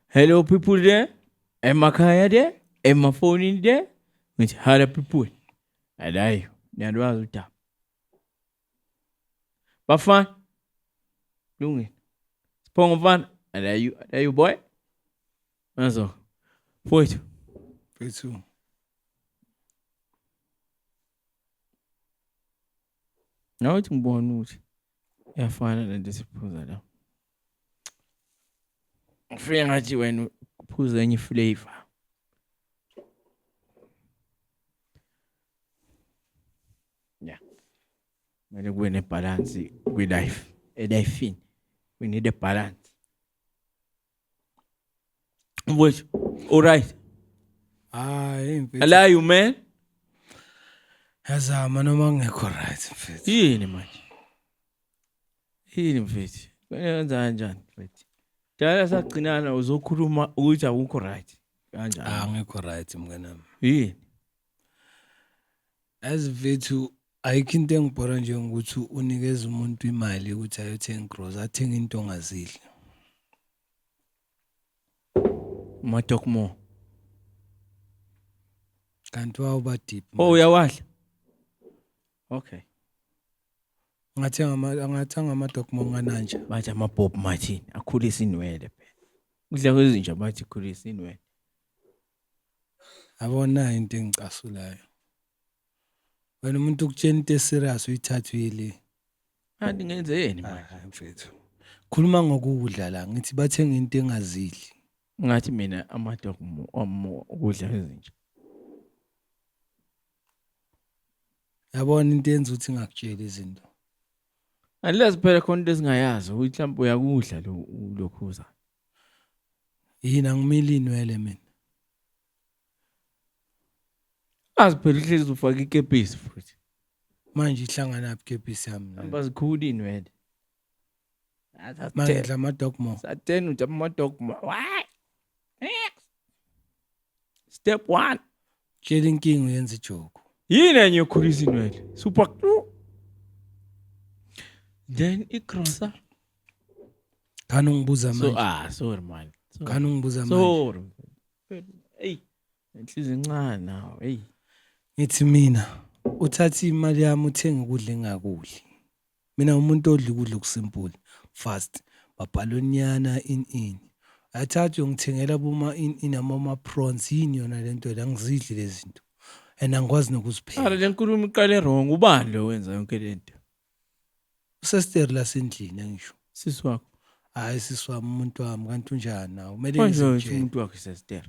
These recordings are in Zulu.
Hello people there, emakhaya there, emafonini there, ngithi hala people. Alayo, niyalwazi udaba. Bafana. Lungile. Siphongo mfana, alayo, alayo boy. Nazo. Mfowethu. Mfowethu. Nawe uthi ngibona ukuthi iyafana lento esiphuza la. ngifike ngathi wena uphuza enye flavor yeah kumele kube nebalance kwi-life elifini we need a balance mfowethu alright hayi mfethu allow you man yazama noma ngekho right mfethu yini manje Yini mfethu? Kumele wenza kanjani mfethu? Dala sagcinana uzokhuluma ukuthi awukho right. Kanjani? Ah ngikho right mngane wami. Yini? As mfethu ayikho into engibhora nje ngokuthi unikeza umuntu imali ukuthi ayothenga gross athenga into ongazidli. Matokmo. Kanti wawuba deep. Oh uyawadla? Okay. Ngathi ngama ngathi ngama dog mongananja. Bathi ama Bob Martin akhulisa inwele phela. Kudla kwezinja bathi khulisa inwele. Abona into engicasulayo. Wena umuntu ukutshela into eserious uyithathwile. Kanti ngenzeni manje? Hayi mfethu. Khuluma ngokudla la ngithi bathenga into engazidli. Ngathi mina ama dog mo ukudla kwezinja. yabona into yenza ukuthi ngakutshela izinto unless phela khona into esingayazi ukuthi mhlawumbe uyakudla lo lokhuza yini angimile inwele mina azi phela uhlezi ufaka ikepisi futhi manje ihlangana phi ikepisi yami hamba zikhulu inwele manje ngidla ama dogmo satheni uthi ama dogmo why step one tshela inkinga uyenza ijoku yini enye ekhulisa inwele super then igrosa khani ungibuza so manje ah sorry man Sorry. khani ungibuza manje sorry hey inhliziyo incane nawe hey ngithi mina uthatha imali yami uthenga ukudla engakudli Mina umuntu odla ukudla okusimple fast babhalonyana in in athathe uyongithengela boma in in amama prawns yini yona lento la ngizidli lezinto and angikwazi nokuzipheka Ara lenkulumo iqale wrong ubani lo wenza yonke lento usesteri lasendlini angisho sisi wakho hayi sisi wami umuntu wami kanti unjani nawe kumele manje ngize ngitshele. umuntu wakhe sesitera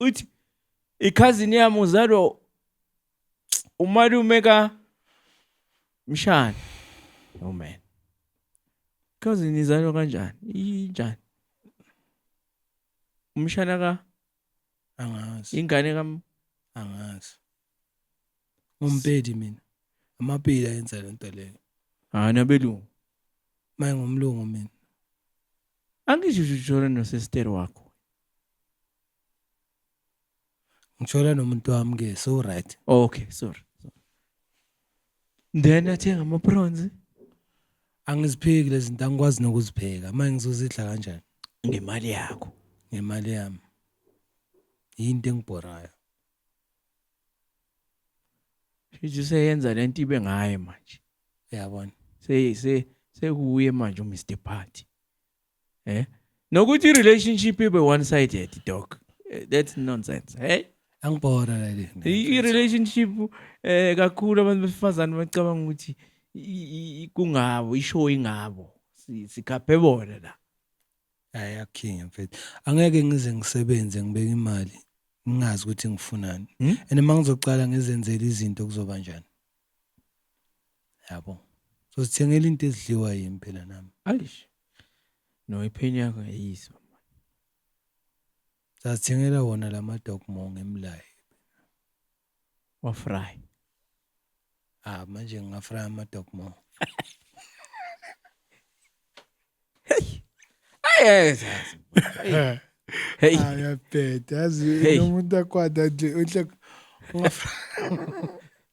uthi ikhazini yami uzalwa umalume ka mshana no man ikhazini izalwa kanjani injani umshana ka angazi ingane ka angazi ngompedi mina amapedi ayenza le nto leyo hayi nabelungu maye ngomlungu mina angisho uJoran nosester wakho Ngithola nomuntu wami ke so right. Okay, sorry. Then athenga ama prawns. Angizipheki lezi zinto angikwazi nokuzipheka. Manje ngizozidla kanjani? ngemali yakho ngemali yami. Yinto engibhorayo. Shithi seyenza lento ibe ngaye manje. Uyabona? Se se sekuye manje uMr Party. eh nokuthi i-relationship ibe one sided doc Eh, that's nonsense hey angibhora leli I- i-relationship eh kakhulu abantu besifazane bacabanga ukuthi i- i- i- kungabo ishow ingabo Si- sikhaphe bona la hayi akhinga mfethu angeke ngize ngisebenze ngibeke imali ngingazi ukuthi ngifunani Hmm? and uma ngizocala ngizenzele izinto kuzoba njani yabo sozithengela into ezidliwa yimi phela nami ayish no iphini yakho yayisa sazithengela wona lama dog mo ngemlaye wa fry ah manje ngingafry ama dog mo Hey. Hey. Hey. Ayabheda yazi Hey. nomuntu akwada nje uhle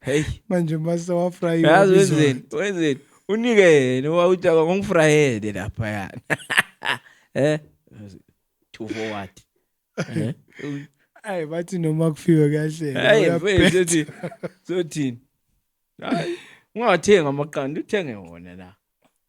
Hey. manje mase wafrayiwa Yazi bizwa. wenzeni? Wenzeni? Unike yena wawuthi akangifrayele lapha yana. Eh? Two for what? Eh? Ay bathi noma kufiwe kahle. Hayi uyabheda. mfethu sothi sothini? Hayi ungathenga amaqanda uthenge wona la.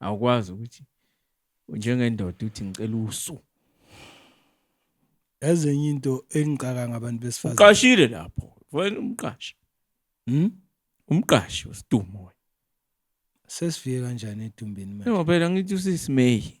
awukwazi ukuthi njengendoda uthi ngicela usu yazi enye into engicaka ngabantu besifazane uqashile lapho wena umqashi hm umqashi usidumo wena sesifike kanjani edumbini manje ngoba phela ngithi usisimeyi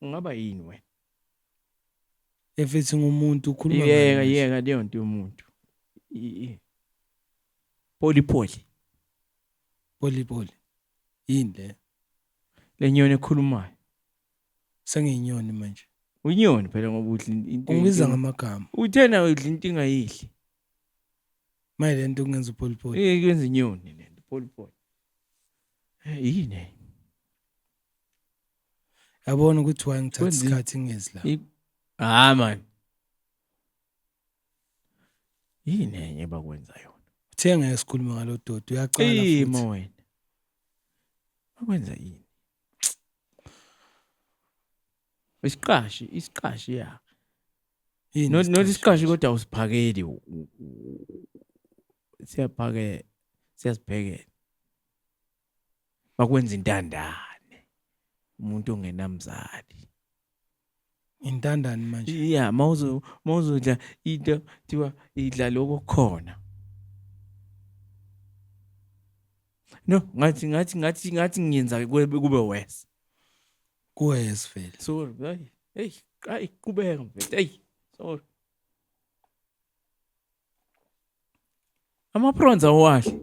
Ungaba yini wena? Efethi ngomuntu ukhuluma ngani? Yeka yeka leyo nto yomuntu. Poli poli. Poli poli. Yini le? Lenyoni ekhulumayo. Sengiyinyoni manje. Unyoni phela ngoba udla into. Ungibiza ngamagama. Uthena udla into ingayidli. Maye le nto kungenza upoli poli. Eh kwenza inyoni le nto poli poli. Yini? yabona ukuthi why ngithatha Kwenzi- isikhathi ngezi la I- hayi man yini enye bakwenza yona uthe ngeke sikhulume ngalo doti uyaqala futhi. imo wena bakwenza yini isiqashi isiqashi ya Yini not not isiqashi? isiqashi kodwa usiphakeli u- u- u- siyaphake siyasibhekela bakwenza intandane umuntu ongenamzali intandane manje iya mawuzo mawuzodla into thiwa idla lokho khona no ngathi ngathi ngathi ngathi ngiyenza kube worse kuwes vele sorry hey hey ay qhubeka mfethu hey sorry Ama-prawns awahle.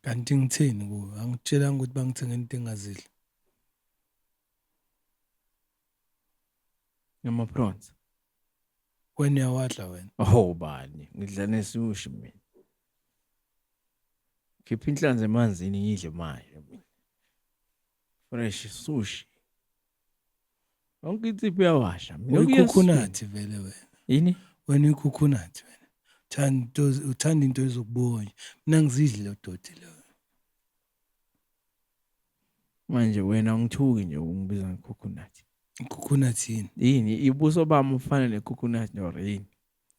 Kanti ngithini kuwe? Angitshelanga ukuthi bangithenga into engazidli. Ama-prawns. Wena uyawadla wena. Ho bani, ngidla nesushi mina. Khipha inhlanzi emanzini ngidle manje mina. fresh sushi yonke insipho uyawasha uyikhukhunathi vele wena yini wena uyikhukhunathi wena thanda uthanda into ezokubonya mina ngizidli lo doti lo manje wena ungithuki nje ungibiza ngekhukhunathi ikhukhunathi yini yini ibuso bami ufana nekhukhunathi nor yini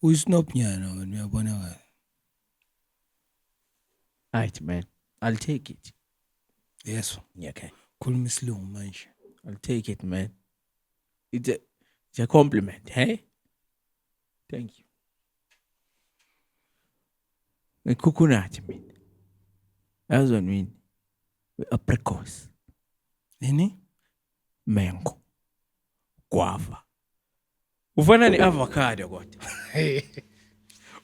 uyisnob nyana wena uyabonakala Right man. I'll take it. Yes. Yeah, okay. Khuluma isilungu manje. I'll take it man. It's a, it's a compliment, hey? Thank you. Ngikhukhunati mina. Yazi wena mina. Apricot. Nini? Mango. Guava. ufana ne-avocado kodwa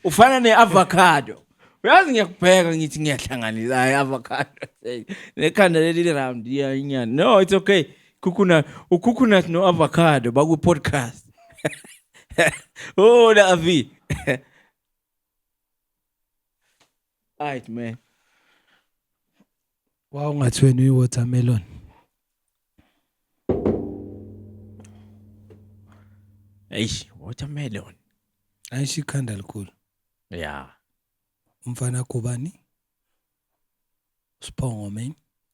ufana ne-avocado uyazi ngiyakubheka ngithi ngiyahlanganisa hayi avocado nekhanda leli li-round inyani no it's okay coconut ucoconut no-avocado bakwi-podcast oh la avi right man wawungathi wena uyi-watermelon eish watermelon ayisho ikhanda likhulu ya umfana kubani sibongo man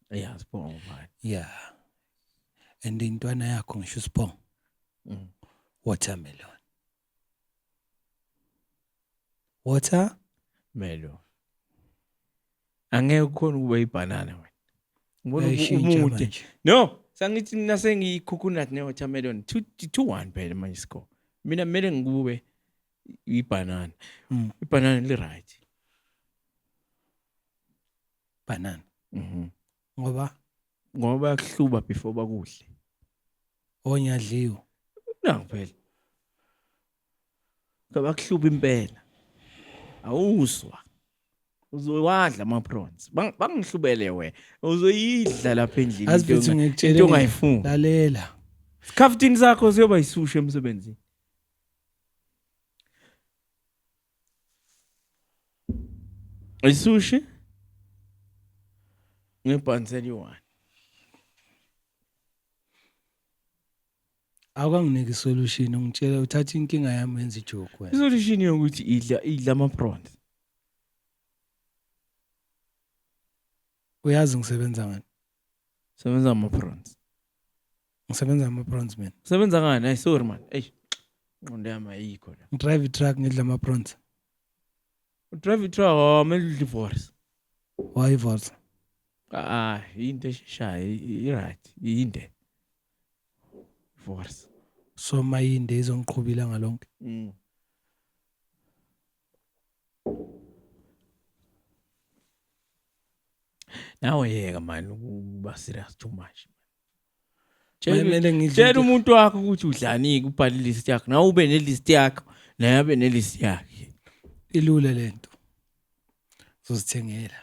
ya sibongo manje ya and intwana yakho ngisho sibongo Mm. watermelon water melon angeke ukhona ukuba ibhanana wena ngibona umude no sangithi mina sengiyicoconut ne-watermelon two, two one phela manje score mina kumele ngikube ibhanana mm. ibhanana li-right banana mm -hmm. ngoba ngoba bayakuhluba before bakudle onyadliwe nangu phela kabakuhluba impela awuzwa uzowadla ama prawns bangihlubele we uzoyidla lapha endlini azithi ngikutshela into ongayifuni lalela scaftini sakho siyoba isushe emsebenzini Isushi ngebhanzi eliyi-one. Awukanginiki isolution ungitshela uthatha inkinga yami wenza ijoke wena. Isolution yokuthi idla idla ama-prawns. Uyazi ngisebenza ngani? Sebenza ama prawns. Ngisebenza ama prawns mina. Sebenza ngani? Ay sorry man. Ey. Nqondo yami ayikho la. Ngidrive i-truck ngidla ama prawns. Udrive i-truck oh mele udle ivorce. Why ivorce? Ah, into esheshayo i-right, inde. Ivorce. So mayinde izongiqhubila ngalonke. Mm. Nawe yeka mani uba serious too much. Tshela umuntu wakho ukuthi udlani kubhala ilist yakho. Nawe ube nelist yakho, naye abe nelist yakhe. Ilula lento. Uzozithengela.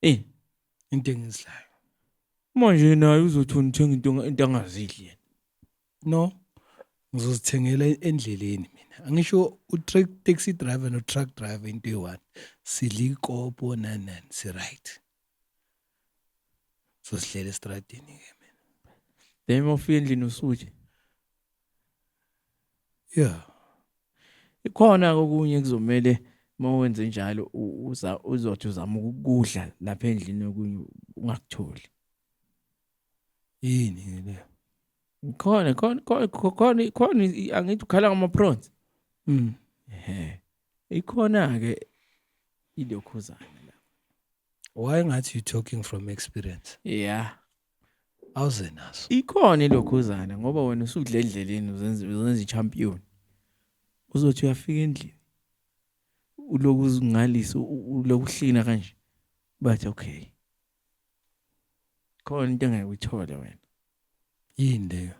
Eh, into engizilayo. Manje naye uzothi unithenga into into angazidli yena. No. Ngizozithengela endleleni mina. Angisho u-truck taxi driver no-truck driver into eyi-one. Sidla ikopo nani nani si-right. Sizozidlela esitradini-ke mina. Then uma ufika endlini usuje? Yeah. Ikhona okunye kuzomele uma wenze njalo uza uzothi uzama ukudla lapha endlini okunye ungakutholi. Yini le? khona khona khona khona khona angithi ukhala ngama-prawns mm. ikhona-ke ilokhuzana la why ngathi you talking from experience yeah awuze naso ikhona ilokhuzana ngoba wena usudla endleleni uzenza uzenza i-champion uzothi uyafika endlini uloku uzingalisa uloku uhlina kanje bathi okay khona into engeke uyithole wena yini leyo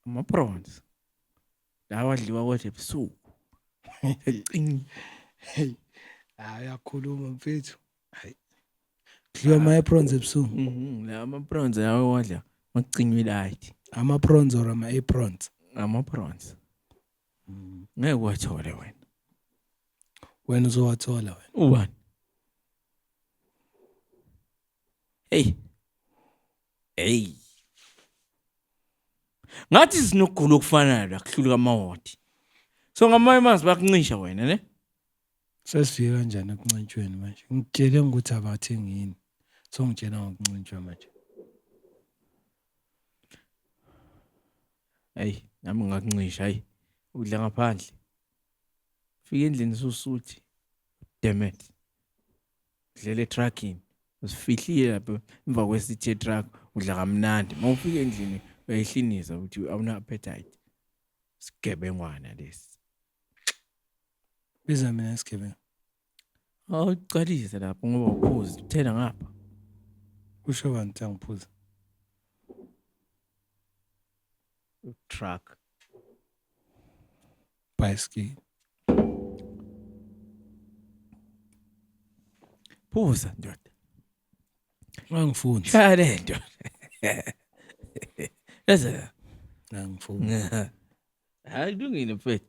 ama-prawns lawa adliwa kodwa ebusuku cing hey hayi akhuluma mfethu hayi kudliwa ama-aprons ebusuku mhm, la ama-prawns lawa wadla makucinywa ilayithi ama-prawns or ama-aprons ama-prawns ngeke uwathole wena wena uzowathola wena ubani hey hey ngathi sinokugula okufanayo la kuhluluka amawodi so ngamanye amanzi bakuncisha wena ne sesifika kanjani ekuncintshweni manje ngitshele ukuthi abathi ngini so ngitshela ngokuncintshwa manje ayi nami ngakuncisha ayi udla ngaphandle fika endlini susuthi demet udlela etruckini usifihlile lapho emva kwesithe truck udla kamnandi uma ufika endlini uyayihliniza ukuthi awuna appetite sigebengwana lesi biza mina sigebengu Awucalise lapho ngoba uphuzi uthela ngapha. Usho bani ukuthi angiphuza? Truck. Bicycle. Phuza ndoda. Angifuni. Shaya le nto. Leza. Angifuni. Hayi kulungile mfethu.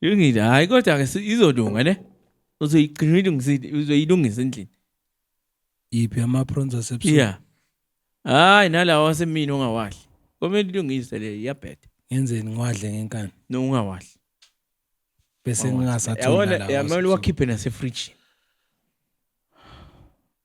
Lungile hayi kodwa ke si- izolunga ne. Uzoyigcina uyilungisile uzoyilungisa endlini. Yiphi ama prawns asebusuku? Yeah. Hayi nalawa wasemini ongawadli. Komele ilungise le iyabheda. Ngenzeni ngiwadle ngenkani? No ungawadli. Bese ngingasatholi Yabona nalawa. yamele asebusuku. wakhiphe nase fridge.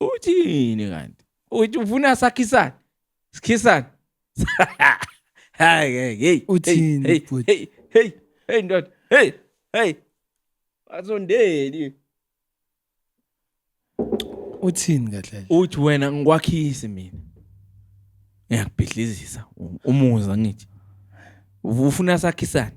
uthini kanti uthi ufuna sakhisane sikhisane hayi hey hey uthini hey hey hey hey ndoda hey hey azondeli uthini kahle uthi wena ngikwakhisi mina ngiyakubhidlizisa umuza ngithi ufuna sakhisane